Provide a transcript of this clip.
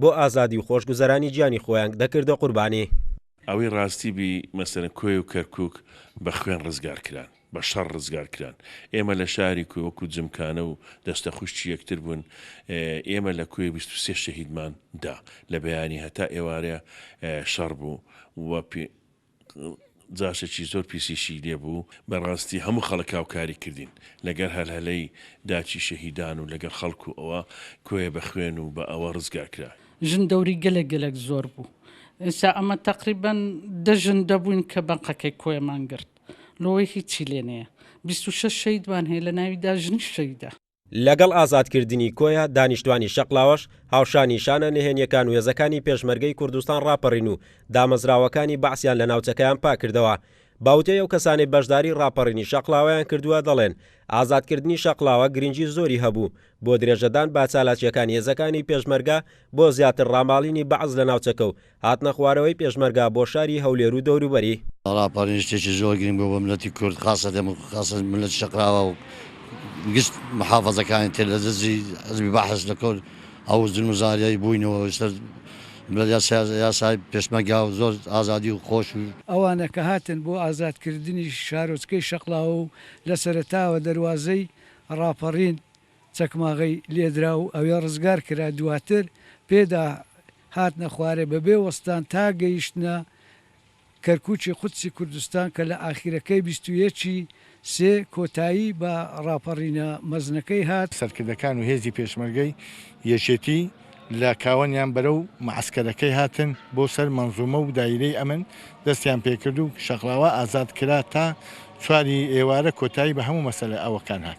بۆ ئازادی و خۆشگوزەرانی گیانی خۆیانگ دەکردە قوربانی. ئەوەی ڕاستی بی مەسەلەن کۆیە و کەرکوک بە خوێن ڕزگار کران، بە شەڕ ڕزگار کران. ئێمە لە شاری کۆیە وەکو جمکانە و دەستە خوشکی یەکتر بوون. ئێمە لە کۆیە بیست و سێ شەهیدمان دا. لە بەیانی هەتا ئێوارێ شەڕ بوو و جاشێکی زۆر پیسیشی لێ بوو بەڕاستی هەموو خەڵک هاوکاری کردین لەگەر هەلهەلەی داکی شەهیدان و لەگەر خەڵک و ئەوە کۆیە بە خوێن و بە ئەوە ڕزگار کرا. ژن دەوری گەلێک گەلێک زۆر بوو ئینسا ئەمە تەقریبەن دە ژن دەبووین کە بەنقەکەی کۆیەمان گرت لۆیە هیچی لێ نەیە بیست و شەش شەهیدمان هەیە لە ناویدا ژنیش شەهیدە. لەگەڵ ئازادکردنی کۆیە، دانیشتوانی شەقڵاوەش هاوشان نیشانە نهێنیەکان و هێزەکانی پێشمەرگەی کوردستان ڕاپەڕین و دامەزراوەکانی بەعسیان لە ناوچەکەیان پاککردەوە. بە وتەی ئەو کەسانەی بەشداری ڕاپەڕینی شەقڵاوەیان کردووە دەڵێن، ئازادکردنی شەقڵاوە گرنگی زۆری هەبوو بۆ درێژەدان بە چالاکیەکانی هێزەکانی پێشمەرگە بۆ زیاتر ڕاماڵینی بەعس لە ناوچەکە و هاتنە خوارەوەی پێشمەرگە بۆ شاری هەولێر و دەوروبەری. ڕاپەڕین شتێکی زۆر گرنگ بوو بۆ میللەتی کورد خاسەتەن خاسەتەن میللەتی شەقراوە و گشت محافەزەکانی تر لە دەستی حزبی بەعس لە کۆل ئەو زولم و زاریای بووینەوە لەسەر بە یاسای یاسای پێشمەرگا و زۆر ئازادی و خۆش و ئەوانە کە هاتن بۆ ئازاد کردنی شارۆچکەی شەقڵاوە و لە سەرەتاوە دەروازەی ڕاپەڕین. چەکماغەی لێدرا و ئەوێ ڕزگار کرا، دواتر پێدا هاتنە خوارێ بەبێ وەستان تا گەیشتنە کەرکوکی قودسی کوردستان کە لە ئاخیرەکەی بیست و یەک ی سێ کۆتایی بە ڕاپەڕینە مەزنەکەی هات. سەرکردەکان و هێزی پێشمەرگەی یەکێتی لە کاوەنیان بەرەو معەسکەرەکەی هاتن بۆ سەر مەنزومە و دایرەی ئەمن دەستیان پێکرد و شەقڵاوە ئازاد کرا تا چوار ی ئێوارە کۆتایی بە هەموو مەسەلە ئەوەکان هات.